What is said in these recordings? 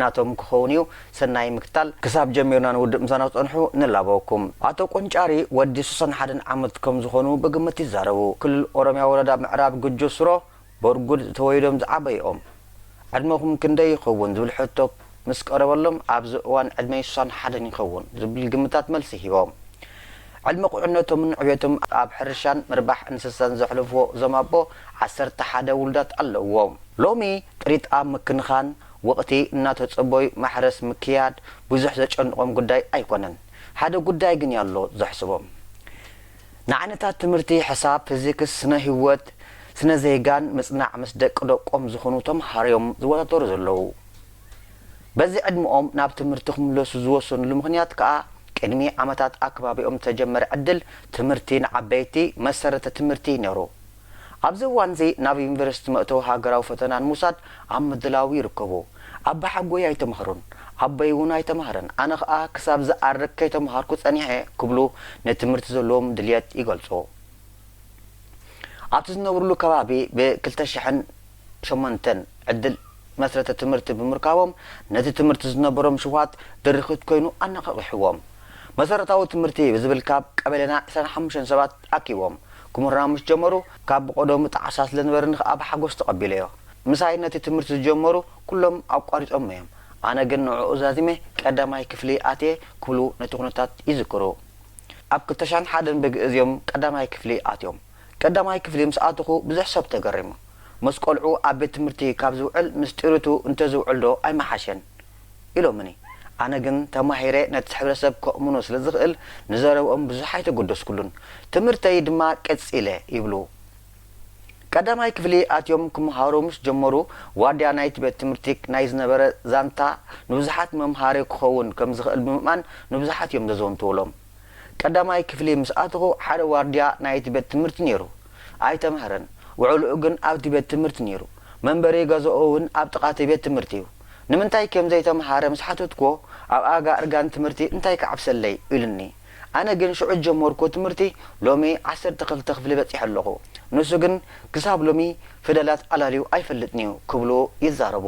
ናቶም ክኸውን እዩ ሰናይ ምክትታል። ክሳብ ጀሚርና ንውድእ ምሳና ክትጸንሑ ንላበወኩም። ኣቶ ቆንጫሪ ወዲ ሱሳን ሓደን ዓመት ከም ዝኾኑ ብግምት ይዛረቡ። ክልል ኦሮምያ ወረዳ ምዕራብ ጉጆ ሱሮ ቦርጉድ ተወሊዶም ዝዓበዩ ኦም። ዕድመኹም ክንደይ ይኸውን ዝብል ሕቶ ምስ ቀረበሎም ኣብዚ እዋን ዕድመይ ሱሳን ሓደን ይኸውን ዝብል ግምታት መልሲ ሂቦም። ዕድመ ቁዕነቶምን ዕቤቶም ኣብ ሕርሻን ምርባሕ እንስሳን ዘሕለፍዎ እዞም ኣቦ ዓሰርተ ሓደ ውሉዳት ኣለዉዎም። ሎሚ ጥሪት ኣብ ምክንኻን ወቕቲ እናተፀበዩ ማሕረስ ምክያድ ብዙሕ ዘጨንቖም ጉዳይ ኣይኮነን። ሓደ ጉዳይ ግን ያሎ ዘሕስቦም። ንዓይነታት ትምህርቲ ሕሳብ፣ ፊዚክስ፣ ስነ ህይወት፣ ስነ ዜጋን ምፅናዕ ምስ ደቂ ደቆም ዝኾኑ ተምሃሮዮም ዝወዳደሩ ዘለዉ። በዚ ዕድመኦም ናብ ትምህርቲ ክምለሱ ዝወሰንሉ ምኽንያት ከኣ ቅድሚ ዓመታት ኣብ ከባቢኦም ዝተጀመረ ዕድል ትምህርቲ ንዓበይቲ፣ መሰረተ ትምህርቲ፣ ነይሩ። ኣብዚ እዋንዚ ናብ ዩኒቨርሲቲ መእተዊ ሃገራዊ ፈተና ንምውሳድ ኣብ ምድላው ይርከቡ። ኣባሓጎይ ኣይተማህሩን፣ ኣቦይ እውን ኣይተማህረን፣ ኣነ ከኣ ክሳብ ዝኣርግ ከይተማሃርኩ ጸኒሐ ክብሉ ንትምህርቲ ዘለዎም ድልየት ይገልጹ። ኣብቲ ዝነብርሉ ከባቢ ብ ክልተ ሽሕን። ሸሞንተን ዕድል መስረተ ትምህርቲ ብምርካቦም ነቲ ትምህርቲ ዝነበሮም ሽውሃት ድርኺት ኮይኑ ኣነቓቒሕዎም። መሰረታዊ ትምህርቲ ብዝብል ካብ ቀበሌና ዕስራን ሓሙሽተን ሰባት ኣኪቦም ክምህሩና ምስ ጀመሩ ካብ ብቐደሙ ጣዕሳ ስለ ዝነበረኒ ከኣ ብሓጎስ ተቐቢለዮ። ምሳይ ነቲ ትምህርቲ ዝጀመሩ ኩሎም ኣቋሪጾሞ'ዮም፣ ኣነ ግን ንዕኡ ዛዚመ ቀዳማይ ክፍሊ ኣትየ ክብሉ ነቲ ኩነታት ይዝክሩ። ኣብ ክልተ ሻሕን ሓደን ብግእዝ'ዮም ቀዳማይ ክፍሊ ኣትዮም። ቀዳማይ ክፍሊ ምስ ኣተኹ ብዙሕ ሰብ ተገሪሙ። ምስ ቆልዑ ኣብ ቤት ትምህርቲ ካብ ዝውዕል ምስ ጥሪቱ እንተዝውዕል ዶ ኣይምሓሸን? ኢሎምኒ። ኣነ ግን ተማሂረ ነቲ ሕብረተሰብ ከእምኖ ስለ ዝኽእል ንዘረብኦም ብዙሕ ኣይተገደስኩሉን። ትምህርተይ ድማ ቀጺለ ይብሉ። ቀዳማይ ክፍሊ ኣትዮም ክመሃሩ ምስ ጀመሩ ዋርድያ ናይቲ ቤት ትምህርቲ ናይ ዝነበረ ዛንታ ንብዙሓት መምሃሪ ክኸውን ከም ዝኽእል ብምእማን ንብዙሓት እዮም ዘዘንትዉሎም። ቀዳማይ ክፍሊ ምስ ኣተኹ ሓደ ዋርድያ ናይቲ ቤት ትምህርቲ ነይሩ። ኣይተማህረን፣ ውዕሎኡ ግን ኣብቲ ቤት ትምህርቲ ነይሩ። መንበሪ ገዛኡ እውን ኣብ ጥቓ እቲ ቤት ትምህርቲ እዩ። ንምንታይ ከም ዘይተማሃረ ምስ ሓተትኩዎ፣ ኣብ ኣጋ እርጋን ትምህርቲ እንታይ ክዓብሰለይ? ኢሉኒ። ኣነ ግን ሽዑ ዝጀመርኩዎ ትምህርቲ ሎሚ ዓሰርተ ክልተ ክፍሊ በጺሐ ኣለኹ። ንሱ ግን ክሳብ ሎሚ ፊደላት ኣላልዩ ኣይፈልጥን'ዩ ክብሉ ይዛረቡ።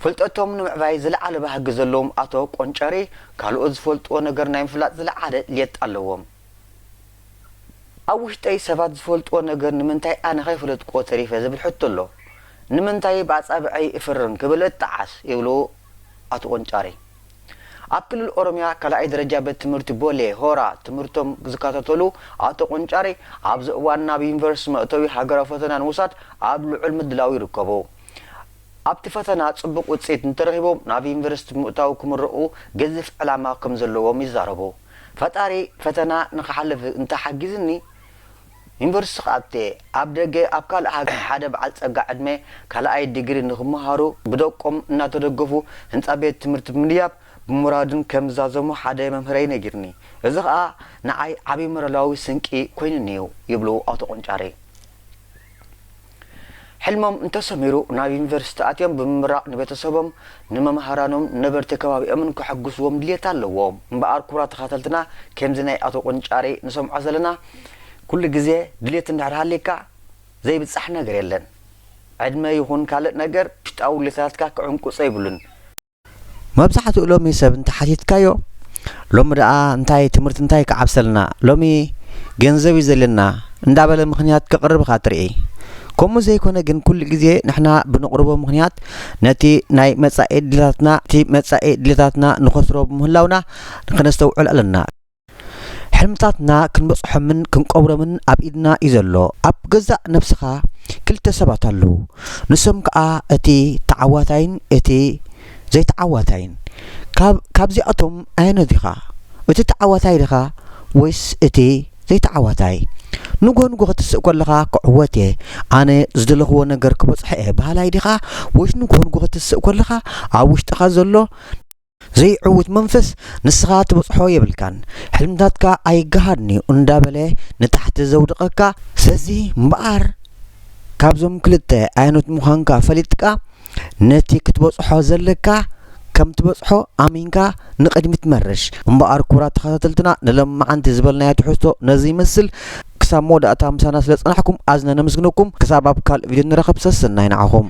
ፍልጠቶም ንምዕባይ ዝለዓለ ባህጊ ዘለዎም ኣቶ ቆንጨሬ፣ ካልኦት ዝፈልጥዎ ነገር ናይ ምፍላጥ ዝለዓለ ድሌት ኣለዎም። ኣብ ውሽጠይ ሰባት ዝፈልጥዎ ነገር ንምንታይ ኣነ ከይፈለጥክዎ ተሪፈ ዝብል ሕቶ ኣሎ። ንምንታይ ብኣጻብዐይ እፍርን ክብል እጠዓስ ይብሉ ኣቶ ቆንጫሬ፣ ኣብ ክልል ኦሮሚያ ካልኣይ ደረጃ ቤት ትምህርቲ ቦሌ ሆራ ትምህርቶም ዝከታተሉ ኣቶ ቆንጫሬ፣ ኣብዚ እዋን ናብ ዩኒቨርስቲ መእተዊ ሃገራዊ ፈተና ንምውሳድ ኣብ ልዑል ምድላው ይርከቡ። ኣብቲ ፈተና ፅቡቕ ውፅኢት እንተረኺቦም ናብ ዩኒቨርስቲ ብምእታው ክምረቑ ገዚፍ ዕላማ ከምዘለዎም ይዛረቡ። ፈጣሪ ፈተና ንክሓልፍ እንተሓጊዙኒ፣ ዩኒቨርሲቲ ከኣቴ፣ ኣብ ደገ ኣብ ካልእ ሃገር ሓደ በዓል ጸጋ ዕድመ ካልኣይ ዲግሪ ንኽመሃሩ ብደቆም እናተደገፉ ህንጻ ቤት ትምህርቲ ብምድያብ ብሞራድን ከም ዝዛዘሙ ሓደ መምህረይ ነጊሩኒ። እዚ ከኣ ንዓይ ዓቢ ሞራላዊ ስንቂ ኮይኑኒ'ዩ ይብሉ ኣቶ ቆንጫሬ። ሕልሞም እንተሰሚሩ ናብ ዩኒቨርሲቲ ኣትዮም ብምምራቕ ንቤተሰቦም፣ ንመምሃራኖም፣ ንነበርቲ ከባቢኦምን ከሐጉስዎም ድልየት ኣለዎም። እምበኣር ኩቡራት ተኻተልትና ከምዚ ናይ ኣቶ ቆንጫሬ ንሰምዖ ዘለና ኩሉ ግዜ ድልየት እንድሕር ሃልይካ ዘይብጻሕ ነገር የለን። ዕድመ ይኹን ካልእ ነገር ውሽጣዊ ድልየታትካ ክዕንቁጾ የብሉን። መብዛሕትኡ ሎሚ ሰብ እንተሓቲትካዮ ሎሚ ደኣ እንታይ ትምህርቲ እንታይ ክዓብሰልና ሎሚ ገንዘብ እዩ ዘለና እንዳበለ ምኽንያት ከቕርብ ኢኻ ትርኢ። ከምኡ ዘይኮነ ግን ኩሉ ግዜ ንሕና ብነቕርቦ ምኽንያት ነቲ ናይ መጻኢ ድሌታትና እቲ መጻኢ ድሌታትና ንኸስሮ ብምህላውና ከነስተውዕል ኣለና። ሕልምታትና ክንበጽሖምን ክንቀብሮምን ኣብ ኢድና እዩ ዘሎ። ኣብ ገዛእ ነብስኻ ክልተ ሰባት ኣለዉ፣ ንሶም ከኣ እቲ ተዓዋታይን እቲ ዘይተዓዋታይን። ካብ ካብዚኣቶም ኣየኖት ዲኻ? እቲ ተዓዋታይ ዲኻ ወይስ እቲ ዘይተዓዋታይ? ንግሆ ንግሆ ክትስእ ከለኻ ክዕወት እየ፣ ኣነ ዝደለኽዎ ነገር ክበጽሖ እየ በሃላይ ዲኻ ወይስ ንግሆ ንግሆ ክትስእ ከለኻ ኣብ ውሽጥኻ ዘሎ ዘይዕዉት መንፈስ ንስኻ ትበጽሖ የብልካን ሕልምታትካ ኣይገሃድንዩ እንዳበለ ንታሕቲ ዘውድቐካ፣ ስለዚ እምበኣር ካብዞም ክልተ ኣየኖት ምዃንካ ፈሊጥካ ነቲ ክትበጽሖ ዘለካ ከም ትበጽሖ ኣሚንካ ንቕድሚት መርሽ። እምበኣር ክቡራት ተኸታተልትና ንሎምዓንቲ ዝበልናዮ ትሕዝቶ ነዚ ይመስል ክሳብ መወዳእታ ምሳና ስለ ዝጸናሕኩም ኣዝና ነመስግነኩም ክሳብ ኣብ ካልእ ቪድዮ ንራኸብ ሰሰናዩ ንዓኹም።